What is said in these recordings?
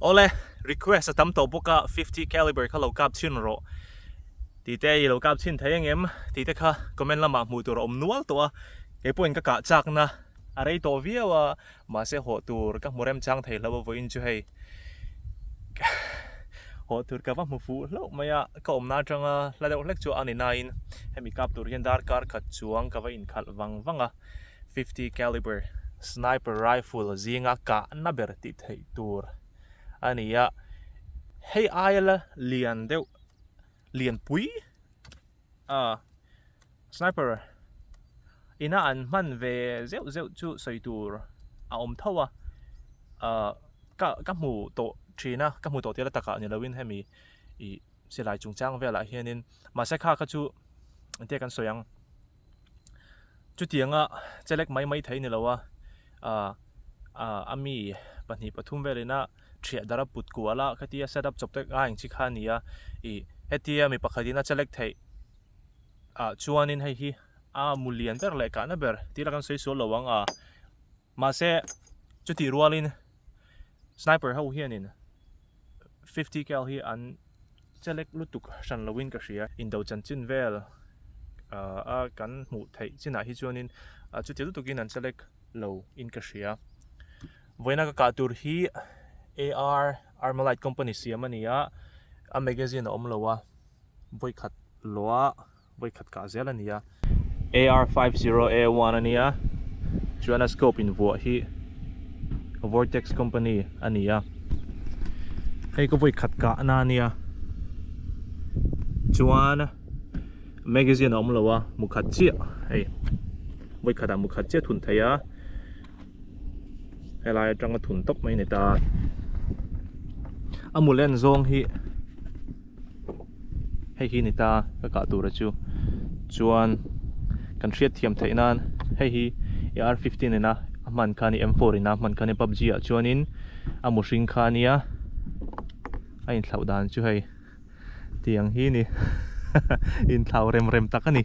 Ole, request a tam tawh bawk a, fifty caliber kha lo kap chhin rawh. Tih te i lo kap chhin thei ang em? Tih te kha comment lamah hmuh tur a awm nual tawh a, kei pawhin ka kah chakna a rei tawh viau a, mahse hawh tur ka hmu rem chang thei hlauh vawiin chu hei hawh tur ka va hmu fuh hlauh mai a, ka awmna atanga hla deuh hlek chu a ni nain hemi kap tur hian darkar khat chuang ka va inkhalh vang vang a. fifty caliber sniper rifle zinga kahna ber tih theih tur a ni a hei aia la lian deuh lianpui a sniper ina an hman ve zeuh zeuh chu sawi tur a awm tho a ah ka ka hmu tawh thin a ka hmu tawh tel a takah ni loin hemi ih silai chungchang velah hianin mahse kha kha chu engtie kan sawi ang. Chutianga chelek mai mai thei ni lo a, a mi pahnih pathum vel ina hriah dar a put kual a, kheti a setup chawp tak a engchi kha a ni a, ih hetia mi pakhat in a chelek theih ah chuan in hei hi a mu lian ber leh kahna ber tih la kan sawi sual lo ang a. Mahse, chutih rualin sniper ho hianin fifty cal hi an chelek lutuk hran loin ka hria. Indo chan chin vel a kan hmuh theih chinah hi chuanin chutih lutukin an chelek lo in ka hria. Vawiina ka kah tur hi AR Armalite company siam a ni a, a magazine a awm lo a, vawikhat luah vawikhat kah zel a ni a. AR five zero A one a nia, chuan a scope in vuah hi Vortex company a ni a, hei ka vawikhat kah na nia chuan magazine a awm lo a, mukhat chiah hei vawikhatah mukhat chiah thun theih a, helai atanga thun tawp mai a ni ta, a mulen zawng hi. hei hi ni ta ka kah tur a chu chuan kan hriat thiam theih nan hei hi ar fifteen ina a hman kha nia m four ina a hman kha nia pubg ah chuanin a mu hring kha nia a inthlau dan chu hei tiang hi ni inthlau rem rem tak a ni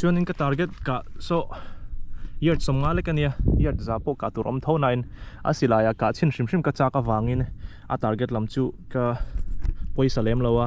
chuan in ka target kah saw yard sawm nga lek a nia yard za pawh kah tur awm tho na in a silai ah kah chhin hrim hrim ka chak avang in a target lam chu ka pawisa lem lo a.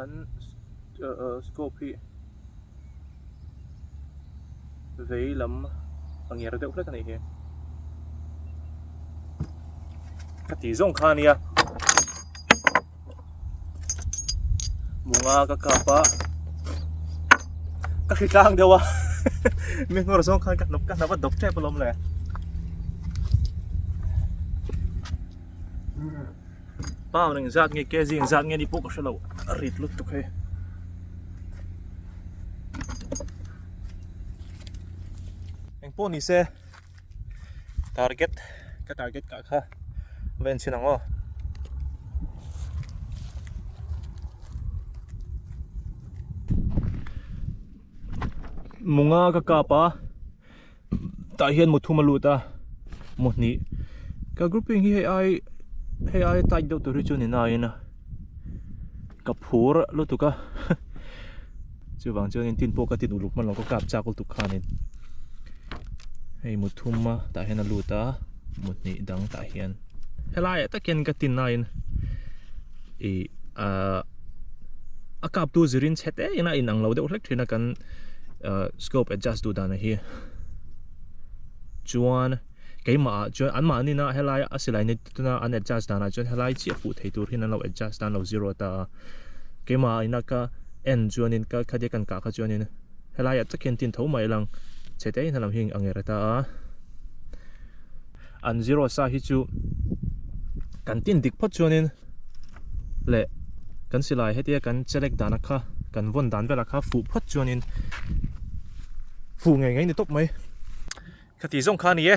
An scope hi vei lam a nger deuh hlek a nih hi. Ka ti zawng kha nia. Munga ka kap a. Ka hri tlang deuh a. Mi ngor zawng khan ka hnap ka hnap a dawp tep alawm le. Pau reng zat nge kg reng zat nge ni pawh ka hre lo a rit lut tuk hei. Eng pawh ni se target ka target ka kha ven sin ang aw. Munga ka kapa tah hian mu thum a lut a mu hnih ka grouping hi hei ai hei aia tight deuh tur hi chu ni na ina ka phur lutuk a chuvang chuan in tin pawh ka tin uluk hman lo ka kap chak lutuk khan in hei mu thum a tah hian a lut a mu hnih dang tah hian helai ah takin ka tin nain ih ahh a kap tu zir in chhe te ina a inang lo deuh hlek thin a kan uh, scope adjust duh dana hi chuan keimah ah chuan anmah nina helai a silai ni tuna an adjust dana chuan helai chi a fuh thei tur hin an lo adjust dan lo zero ta keimah ina ka en chuan in ka khadia kan ka kha chuan in helai a takin tin tho mai lang chete in halam hi angera ta a An zero sa hi chu kan tin dik phawt chuanin leh kan silai hetia kan chelek dan a kha kan vawn dan vel a kha fuh phawt chuanin fuh ngei ngei ni tawp mai kha ti zawng kha a ni e.